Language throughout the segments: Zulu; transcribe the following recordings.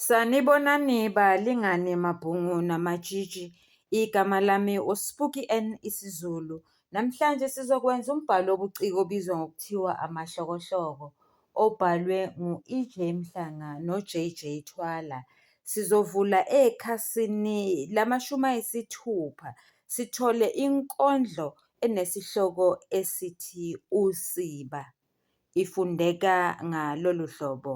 Sanibonani balingani mabhungu namatshitshi. Igama lami uSpuki N isiZulu. Namhlanje sizokwenza umbhalo wobuciko obizwa ngokuthiwa amahlokohloko obhalwe ngu-EJ Mhlanga no-JJ Thwala. Sizovula ekhasini lamashumi ayisithupha sithole inkondlo enesihloko esithi usiba ifundeka ngalolu hlobo.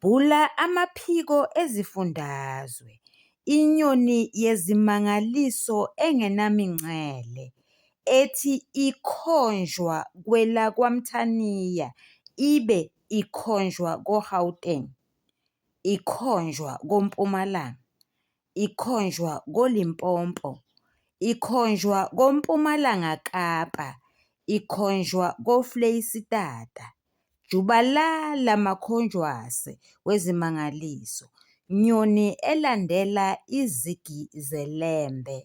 Bhula amaphiko ezifundazwe, inyoni yezimangaliso engenamingcele, ethi ikhonjwa kwelakwaMthaniya ibe ikhonjwa koGauteng, ikhonjwa koMpumalanga, ikhonjwa koLimpopo, ikhonjwa koMpumalanga Kapa, ikhonjwa koFleyisitata. Jubalala makhonjwase wezimangaliso, nyoni elandela izigi zeLembe!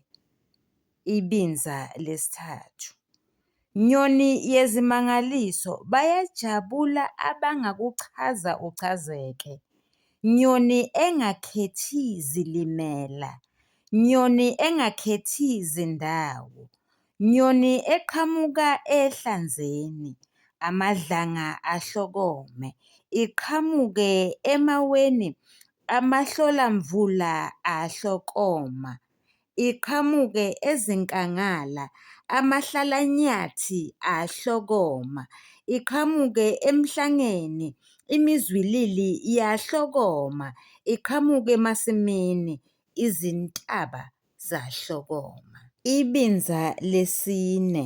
ibinza lesithathu. Nyoni yezimangaliso bayajabula abangakuchaza uchazeke. Nyoni engakhethi zilimela. Nyoni engakhethi zindawo. Nyoni eqhamuka ehlanzeni. Amadlanga ahlokome. Iqhamuke emaweni. Amahlolamvula ahlokoma. iqhamuke ezinkangala, amahlalanyathi ahlokoma, iqhamuke emhlangeni, imizwilili yahlokoma, iqhamuke emasimini, izintaba zahlokoma. Ibinza lesine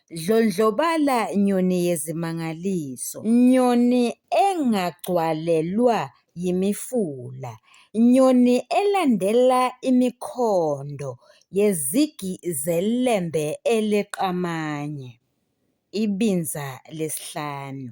Dlondlobala nyoni yezimangaliso, nyoni engagcwalelwa yimifula, nyoni elandela imikhondo yezigi zeLembe eliqamanye, ibinza lesihlanu.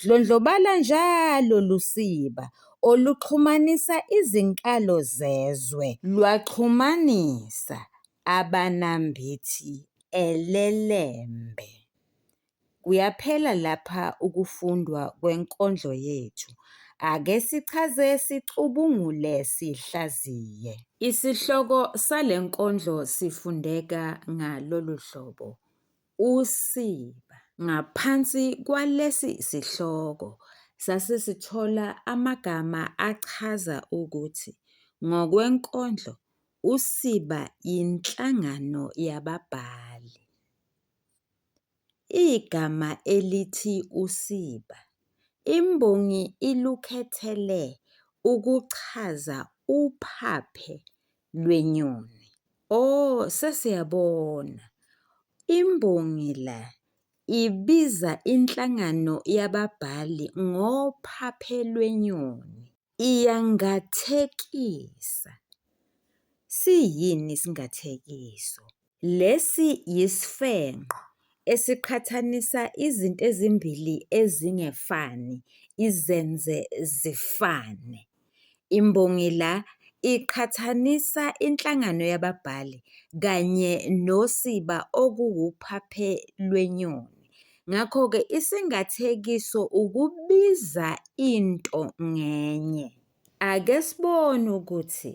Dlondlobala njalo lusiba oluxhumanisa izinkalo zezwe lwaxhumanisa abanambithi elelembe. Kuyaphela lapha ukufundwa kwenkondlo yethu. Ake sichaze sicubungule sihlaziye. Isihloko sale nkondlo sifundeka ngalolu hlobo, usiba. Ngaphansi kwalesi sihloko sase sithola amagama achaza ukuthi ngokwenkondlo usiba yinhlangano yababhali. Igama elithi usiba imbongi ilukhethele ukuchaza uphaphe lwenyoni. Oh sesiyabona. Imbongi la ibiza inhlangano yababhali ngophaphe lwenyoni. Iyangathekisa. Siyini isingathekiso? Lesi yisifengqo esiqhathanisa izinto ezimbili ezingefani izenze zifane. Imbongi la iqhathanisa inhlangano yababhali kanye nosiba okuwuphaphe lwenyoni. Ngakho-ke isingathekiso ukubiza into ngenye. Ake sibone ukuthi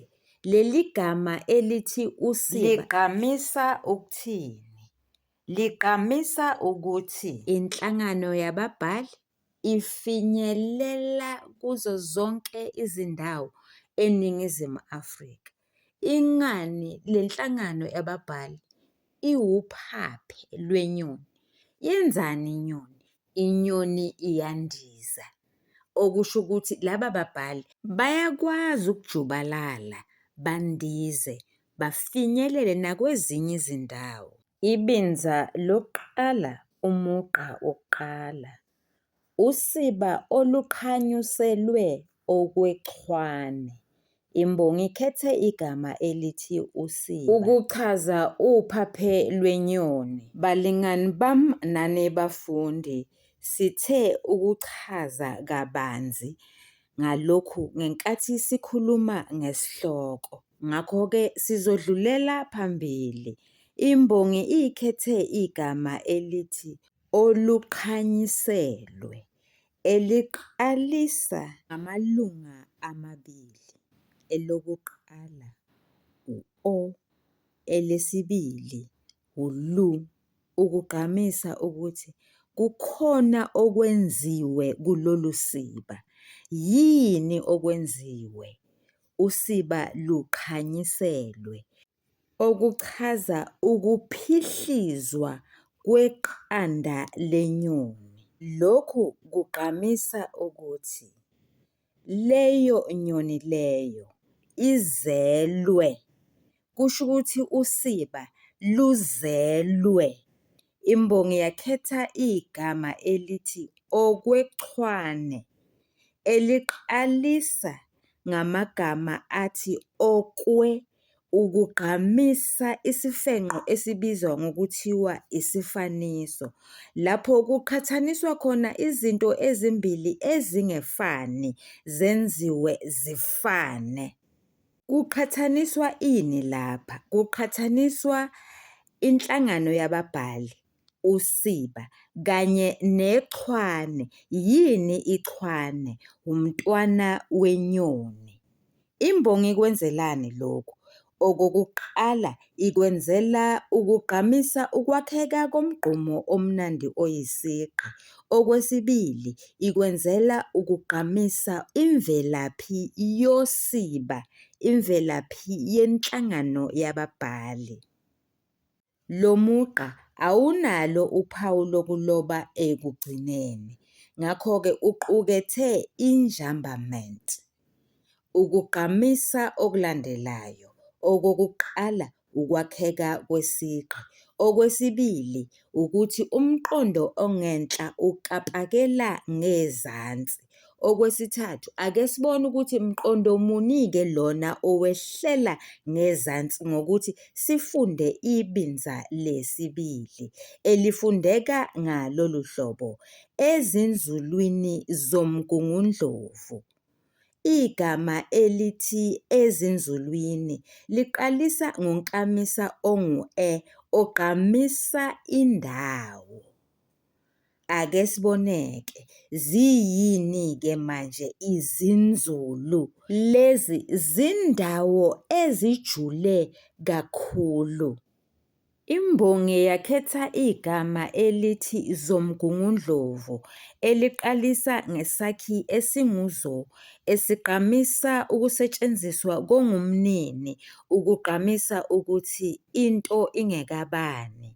leli gama elithi usiba ligqamisa ukuthini. Ligqamisa ukuthi inhlangano yababhali ifinyelela kuzo zonke izindawo eNingizimu Afrika. Ingani le nhlangano yababhali iwuphaphe lwenyoni. Yenzani inyoni? Inyoni iyandiza, okusho ukuthi laba babhali bayakwazi ukujubalala bandize bafinyelele nakwezinye izindawo. Ibinza lokuqala umugqa wokuqala usiba oluqhanyuselwe okwechwane. Imbongi ikhethe igama elithi usiba ukuchaza uphaphe lwenyoni. Balingani bam nani bafundi sithe ukuchaza kabanzi ngalokhu ngenkathi sikhuluma ngesihloko. Ngakho-ke sizodlulela phambili. Imbongi ikhethe igama elithi oluqhanyiselwe eliqalisa ngamalunga amabili, elokuqala u-o, elesibili u-lu, ukugqamisa ukuthi kukhona okwenziwe kulolu siba. Yini okwenziwe? usiba luqhanyiselwe, okuchaza ukuphihlizwa kweqanda lenyoni. Lokhu kugqamisa ukuthi leyo nyoni leyo izelwe kusho ukuthi usiba luzelwe. Imbongi yakhetha igama elithi okwechwane eliqalisa ngamagama athi okwe ukugqamisa isifenqo esibizwa ngokuthiwa isifaniso, lapho kuqhathaniswa khona izinto ezimbili ezingefani zenziwe zifane. Kuqhathaniswa ini lapha? Kuqhathaniswa inhlangano yababhali, usiba, kanye nechwane. Yini ichwane? Wumntwana wenyoni. Imbongi ikwenzelani lokhu? Okokuqala, Ikwenzela ukugqamisa ukwakheka komgqumo omnandi oyisigqi. Okwesibili, ikwenzela ukugqamisa imvelaphi yosiba, imvelaphi yenhlangano yababhali. Lo mugqa awunalo uphawu lokuloba ekugcineni, ngakho-ke uqukethe i-njambament. Ukugqamisa okulandelayo, okokuqala ukwakheka kwesigqi, okwesibili ukuthi umqondo ongenhla ukapakela ngezansi, okwesithathu ake sibone ukuthi mqondo muni-ke lona owehlela ngezansi ngokuthi sifunde ibinza lesibili, elifundeka ngalolu hlobo, Ezinzulwini zoMgungundlovu, igama elithi ezinzulwini liqalisa ngonklamisa ongu-e ogqamisa indawo. Ake sibone-ke, ziyini-ke manje izinzulu? Lezi zindawo ezijule kakhulu. Imbongi yakhetha igama elithi Zomgungundlovu eliqalisa ngesakhi esingu-zo esigqamisa ukusetshenziswa kongumnini ukugqamisa ukuthi into ingekabani.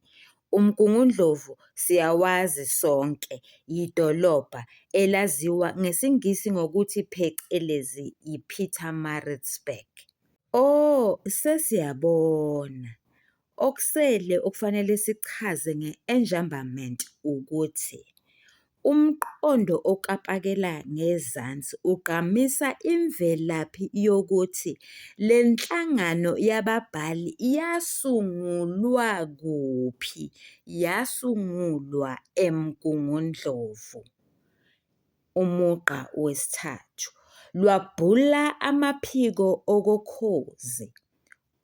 Umgungundlovu siyawazi sonke, yidolobha elaziwa ngesiNgisi ngokuthi phecelezi yi-Pietermaritzburg. O, sesiyabona. Okusele okufanele sikuchaze nge-enjambament ukuthi umqondo okapakela ngezansi ugqamisa imvelaphi yokuthi le nhlangano yababhali yasungulwa kuphi, yasungulwa eMgungundlovu. umugqa wesithathu lwabhula amaphiko okokhozi.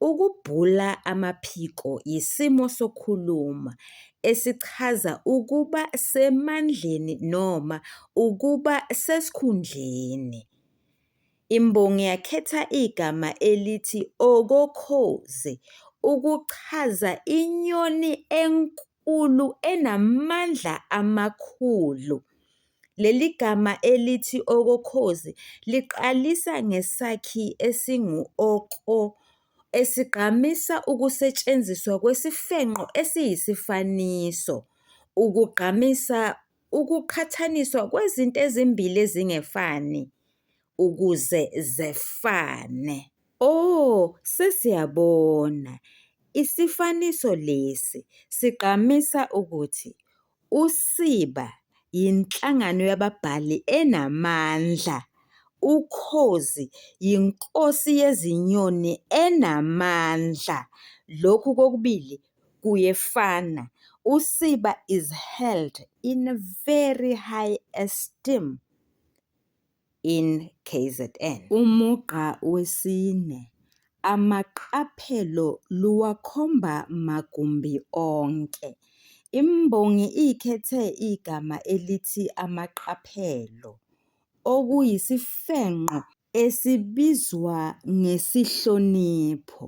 Ukubhula amaphiko yisimo sokukhuluma esichaza ukuba semandleni noma ukuba sesikhundleni. Imbongi yakhetha igama elithi okokhozi ukuchaza inyoni enkulu. Nkulu enamandla amakhulu. Leli gama elithi okokhozi liqalisa ngesakhi esingu-ok, o, esigqamisa ukusetshenziswa kwesifenqo esiyisifaniso, ukugqamisa ukuqhathaniswa kwezinto ezimbili ezingefani. ukuze zefane. O, sesiyabona, isifaniso lesi sigqamisa ukuthi usiba yinhlangano yababhali enamandla, ukhozi yinkosi yezinyoni enamandla, lokhu kokubili kuyefana, usiba is held in very high esteem. in KZN. Umugqa wesine, amaqaphelo luwakhomba magumbi onke. Imbongi ikhethe igama elithi amaqaphelo, okuyisifengqo esibizwa ngesihlonipho.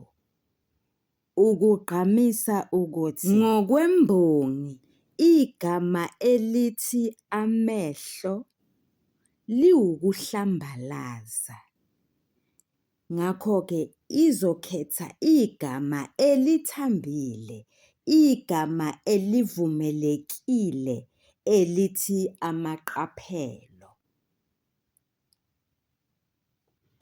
ukugqamisa ukuthi ngokwembongi igama elithi amehlo liwukuhlambalaza, ngakho-ke izokhetha igama elithambile, igama elivumelekile elithi amaqaphelo.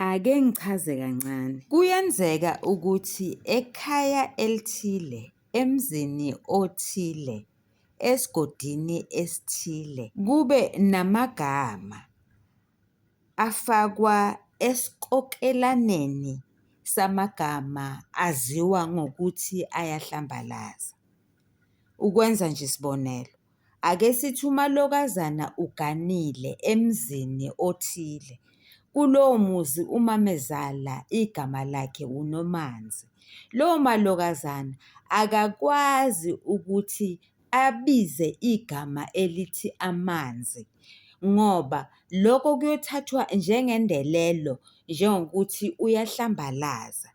Ake ngichaze kancane. Kuyenzeka ukuthi ekhaya elithile, emzini othile, esigodini esithile kube namagama afakwa esikokelaneni samagama aziwa ngokuthi ayahlambalaza. Ukwenza nje isibonelo. Ake sithi umalokazana uganile emzini othile. Kulowo muzi umamezala igama lakhe uNomanzi. Lowo malokazana akakwazi ukuthi abize igama elithi amanzi ngoba loko kuyothathwa njengendelelo njengokuthi uyahlambalaza.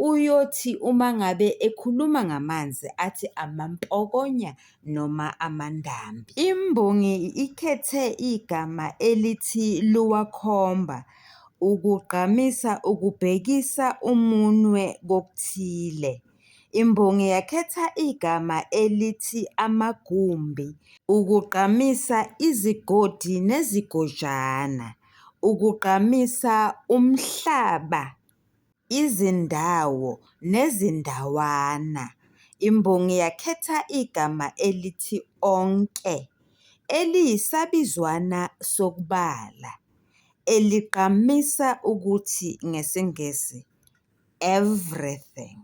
uyothi uma ngabe ekhuluma ngamanzi athi amampokonya noma amandambi. Imbongi ikhethe igama elithi luwakhomba ukugqamisa ukubhekisa umunwe kokuthile. Imbongi yakhetha igama elithi amagumbi ukugqamisa izigodi nezigojana, ukugqamisa umhlaba izindawo nezindawana. Imbongi yakhetha igama elithi onke, eliyisabizwana sokubala, eligqamisa ukuthi ngesiNgisi everything.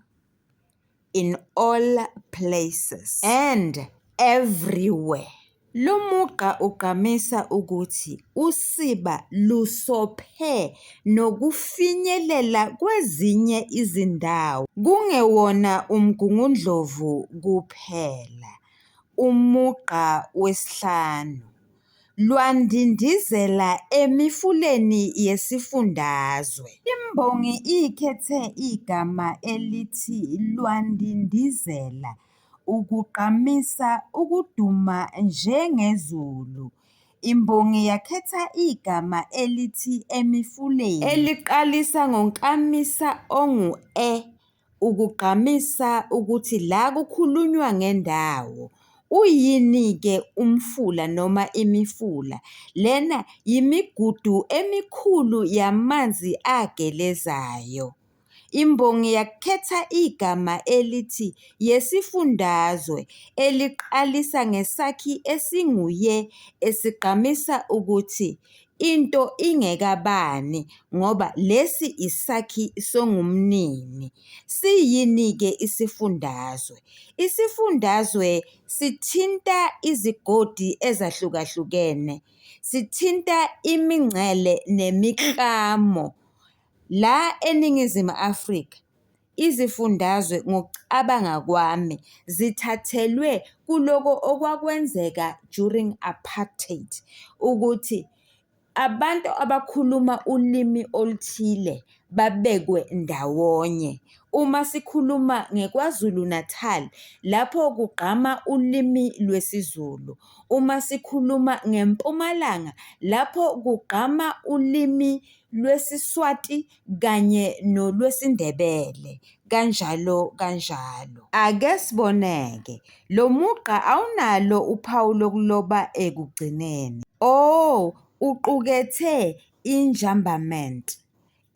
in all places and everywhere. Lo mugqa ugqamisa ukuthi usiba lusophe nokufinyelela kwezinye izindawo, kungewona uMgungundlovu kuphela, umugqa wesihlanu, lwandindizela emifuleni yesifundazwe. Imbongi ikhethe igama elithi lwandindizela ukugqamisa ukuduma njengezulu. Imbongi yakhetha igama elithi emifuleni eliqalisa ngonkamisa ongu-e. ukugqamisa ukuthi la kukhulunywa ngendawo. Uyini-ke umfula noma imifula? Lena yimigudu emikhulu yamanzi agelezayo. Imbongi yakhetha igama elithi yesifundazwe eliqalisa ngesakhi esingu-ye esigqamisa ukuthi Into ingekabani ngoba lesi isakhi songumnini. Siyini-ke isifundazwe? Isifundazwe sithinta izigodi ezahlukahlukene, sithinta imingcele nemiklamo la eNingizimu Afrika. Izifundazwe ngokucabanga kwami zithathelwe kuloko okwakwenzeka during apartheid ukuthi abantu abakhuluma ulimi oluthile babekwe ndawonye. Uma sikhuluma ngeKwaZulu Natal lapho kugqama ulimi lwesiZulu, uma sikhuluma ngeMpumalanga lapho kugqama ulimi lwesiSwati. kanye nolwesiNdebele kanjalo kanjalo. Ake siboneke, lo mugqa awunalo uphawu lokuloba ekugcineni. O uqukethe i-njambament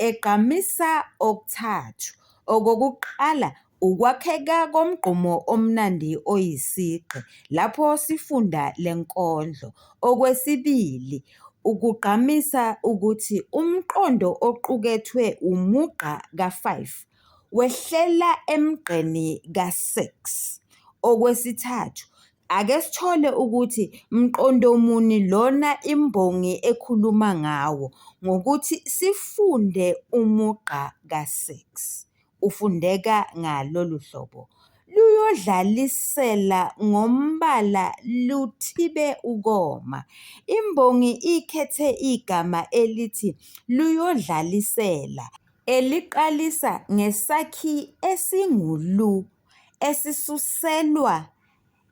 egqamisa okuthathu, okokuqala Ukwakheka komgqumo omnandi oyisigqi lapho sifunda le nkondlo. Okwesibili, ukugqamisa ukuthi umqondo oqukethwe wumugqa ka-5 wehlela emgqeni ka-6. Okwesithathu, ake sithole ukuthi mqondo muni lona imbongi ekhuluma ngawo ngokuthi sifunde umugqa ka-6. ufundeka ngalolu hlobo, luyodlalisela ngombala luthibe ukoma. Imbongi ikhethe igama elithi luyodlalisela eliqalisa ngesakhi esingu-lu esisuselwa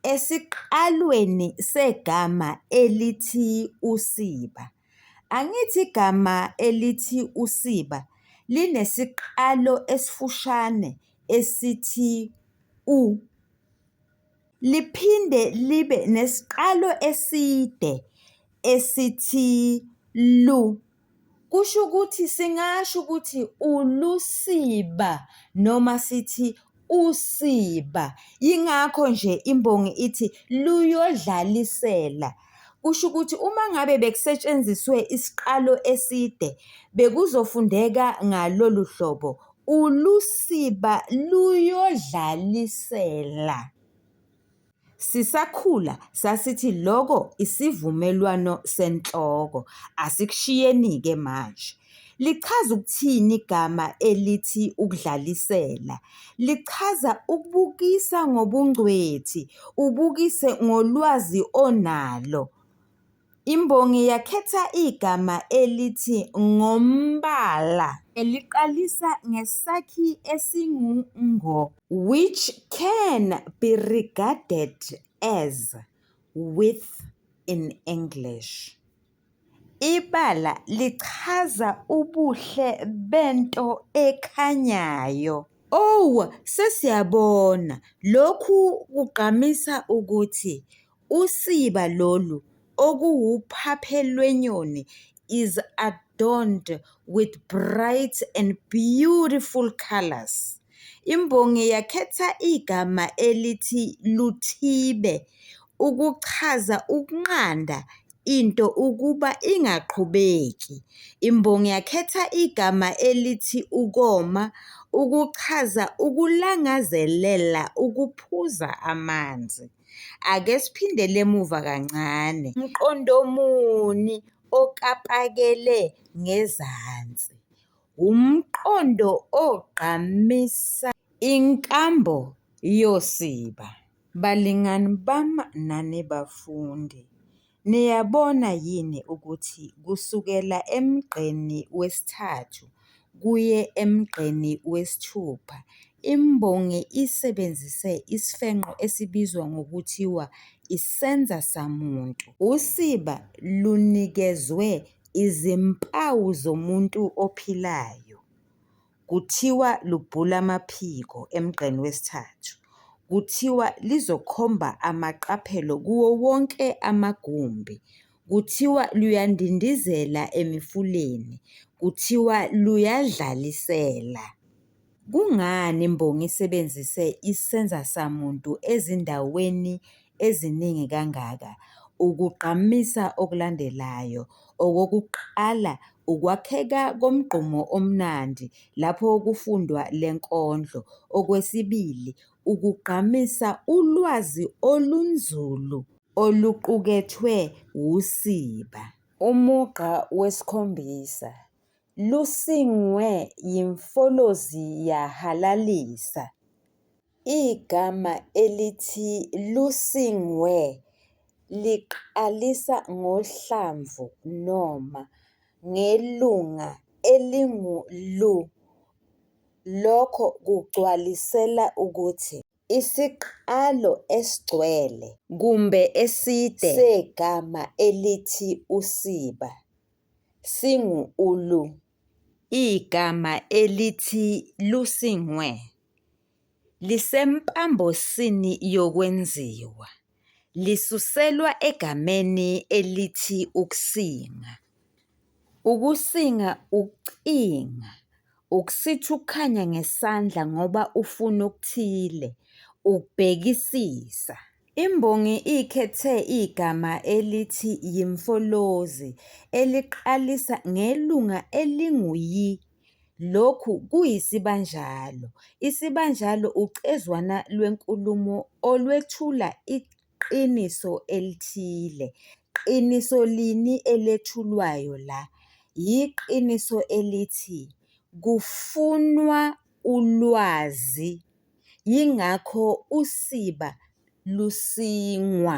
esiqalweni segama elithi usiba. Angithi igama elithi usiba linesiqalo esifushane esithi u, liphinde libe nesiqalo eside esithi lu. Kusho ukuthi singasho ukuthi ulusiba noma sithi usiba. Yingakho nje imbongi ithi luyodlalisela. Kusho ukuthi uma ngabe bekusetshenziswe isiqalo eside bekuzofundeka ngalolu hlobo, ulusiba luyodlalisela. Sisakhula sasithi loko isivumelwano senhloko, asikushiyeni-ke manje. Lichaza ukuthini igama elithi ukudlalisela? Lichaza ukubukisa ngobungcwethi, ubukise ngolwazi onalo. Imbongi yakhetha igama elithi ngombala eliqalisa ngesakhi esingu ngo, which can be regarded as with in English. Ibala lichaza ubuhle bento ekhanyayo. Oh, sesiyabona, lokhu kugqamisa ukuthi Usiba lolu okuwuphaphe lwenyoni is adorned with bright and beautiful colours. Imbongi yakhetha igama elithi Luthibe ukuchaza ukunqanda into ukuba ingaqhubeki. Imbongi yakhetha igama elithi ukoma ukuchaza ukulangazelela ukuphuza amanzi. Ake siphindele emuva kancane. Mqondo muni okapakele ngezansi? Wumqondo ogqamisa inkambo yosiba. Balingani bami nani bafundi, Niyabona yini ukuthi kusukela emgqeni wesithathu kuye emgqeni wesithupha imbongi isebenzise isifenqo esibizwa ngokuthiwa isenza samuntu. Usiba lunikezwe izimpawu zomuntu ophilayo. Kuthiwa lubhula amaphiko emgqeni wesithathu. Kuthiwa lizokhomba amaqaphelo kuwo wonke amagumbi. Kuthiwa luyandindizela emifuleni. Kuthiwa luyadlalisela. Kungani imbongi isebenzise isenzasamuntu ezindaweni eziningi kangaka ukugqamisa okulandelayo, okokuqala ukwakheka komgqumo omnandi lapho kufundwa le nkondlo, okwesibili ukugqamisa ulwazi olunzulu oluqukethwe wusiba. Umugqa wesikhombisa, Lusingwe yimfolozi yahalalisa. Igama elithi Lusingwe liqalisa ngohlamvu noma ngelunga elingu-lu. Lokho kugcwalisela ukuthi isiqalo esigcwele, kumbe eside, segama elithi usiba singu-ulu. Igama elithi Lusingwe Lisempambosini yokwenziwa, lisuselwa egameni elithi ukusinga. Ukusinga ukucinga, ukusithi ukukhanya ngesandla ngoba ufuna okuthile, ukubhekisisa. Imbongi ikhethe igama elithi yimfolozi eliqalisa ngelunga elingu-yi Lokhu kuyisibanjalo. Isibanjalo ucezwana lwenkulumo olwethula iqiniso elithile. Qiniso lini elethulwayo la? Yiqiniso elithi kufunwa ulwazi, yingakho usiba lusingwa.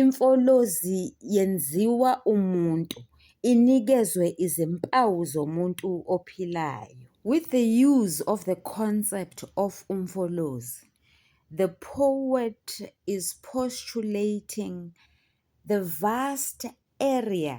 Imfolozi yenziwa umuntu, inikezwe izimpawu zomuntu ophilayo. With the use of the concept of umfolozi, the poet is postulating the vast area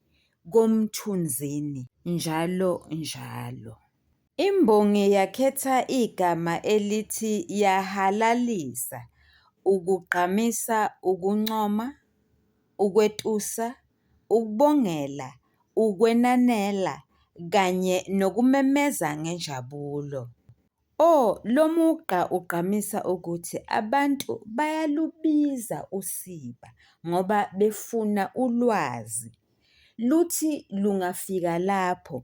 koMthunzini njalo njalo. Imbongi yakhetha igama elithi yahalalisa ukugqamisa ukuncoma, ukwetusa, ukubongela, ukwenanela kanye nokumemeza ngenjabulo. O, lomugqa ugqamisa ukuthi abantu bayalubiza usiba ngoba befuna ulwazi. Luthi lungafika lapho,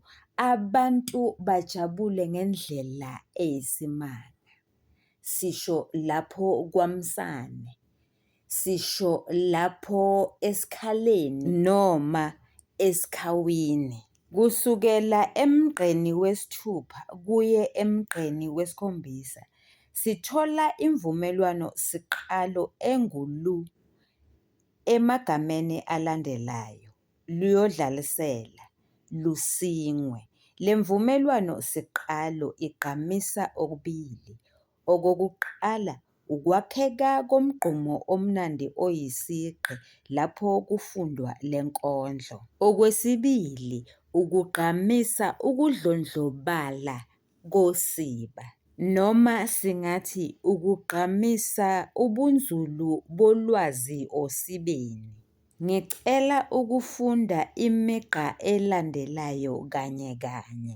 abantu bajabule ngendlela eyisimanga, sisho lapho kwaMsane. sisho lapho esikhaleni noma esikhawini. Kusukela emgqeni wesithupha kuye emgqeni wesikhombisa sithola imvumelwano-siqalo engu-lu emagameni alandelayo, luyodlalisela, lusingwe. Le mvumelwano-siqalo igqamisa okubili, Okokuqala, ukwakheka komgqumo omnandi oyisigqi lapho kufundwa le nkondlo. Okwesibili, ukugqamisa ukudlondlobala kosiba, noma singathi ukugqamisa ubunzulu bolwazi osibeni. Ngicela ukufunda imigqa elandelayo kanye kanye.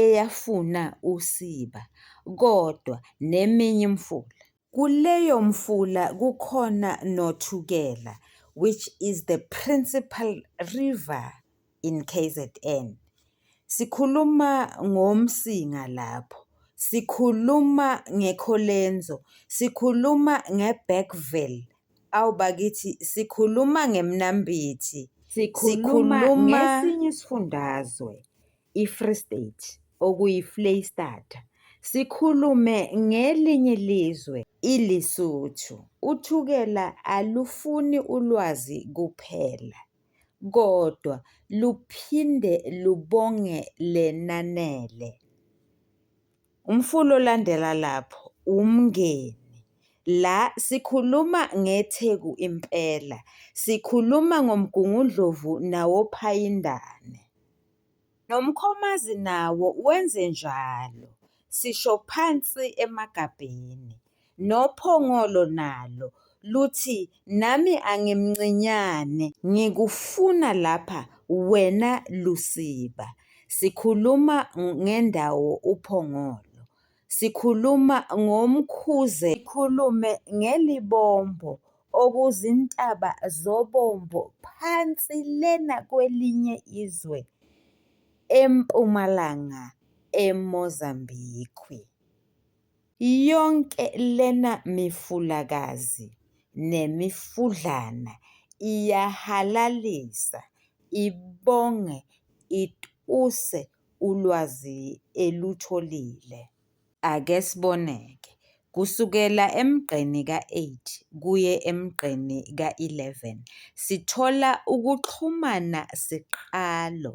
eyafuna usiba kodwa neminye imfula. Kuleyo mfula kukhona noThukela which is the principal river in K_Z_N. Sikhuluma ngoMsinga lapho, sikhuluma ngeKholenzo, sikhuluma ngeBergville Awu bakithi sikhuluma ngemnambithi. Sikhuluma ngesinye isifundazwe i-Free State okuyi-Fleyistata. Sikhulume ngelinye ilizwe iLesotho. Uthukela alufuni ulwazi kuphela kodwa luphinde lubonge lenanele. Umfula olandela lapho uMngeni. La sikhuluma ngeTheku impela. Sikhuluma ngoMgungundlovu nawoPhayindane. NoMkhomazi nawo wenze njalo. Sisho phansi emagabheni. noPhongolo nalo luthi nami angimncinyane ngikufuna lapha wena Lusiba sikhuluma ngendawo uPhongolo sikhuluma ngomkhuze sikhulume ngelibombo okuzintaba zobombo phansi lena kwelinye izwe eMpumalanga eMozambique. Yonke lena mifulakazi nemifudlana iyahalalisa, ibonge, ituse ulwazi elutholile. Ake sibone-ke, kusukela emgqeni ka-8 kuye emgqeni ka-11 sithola ukuxhumana siqalo.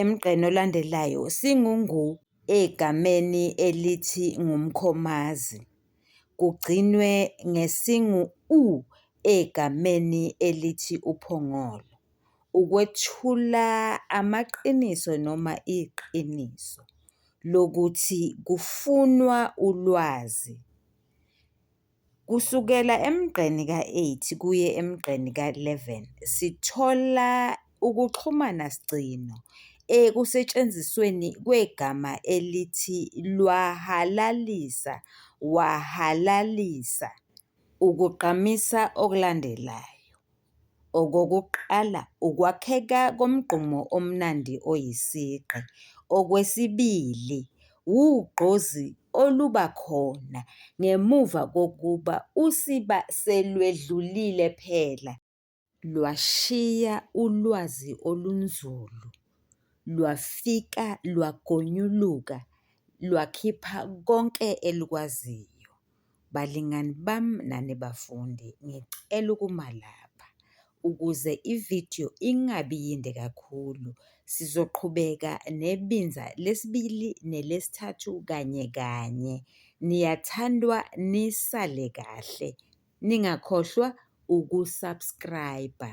Emgqeni olandelayo singungu egameni elithi ngumkhomazi, kugcinwe ngesingu u egameni elithi uphongolo, ukwethula amaqiniso noma iqiniso lokuthi kufunwa ulwazi. Kusukela emgqeni ka-8 kuye emgqeni ka-11 sithola ukuxhumana sigcino ekusetshenzisweni kwegama elithi "lwahalalisa", "wahalalisa", ukugqamisa okulandelayo. Okokuqala ukwakheka komgqumo omnandi oyisigqi, okwesibili wugqozi oluba khona ngemuva kokuba usiba selwedlulile phela lwashiya ulwazi olunzulu, lwafika lwagonyuluka lwakhipha konke elukwaziyo. Balingani bami nani bafundi, ngicela ukuma lapha ukuze ividiyo ingabi yinde kakhulu. Sizoqhubeka nebinza lesibili nelesithathu kanye kanye. Niyathandwa nisale kahle, ningakhohlwa uku-subscribe-a.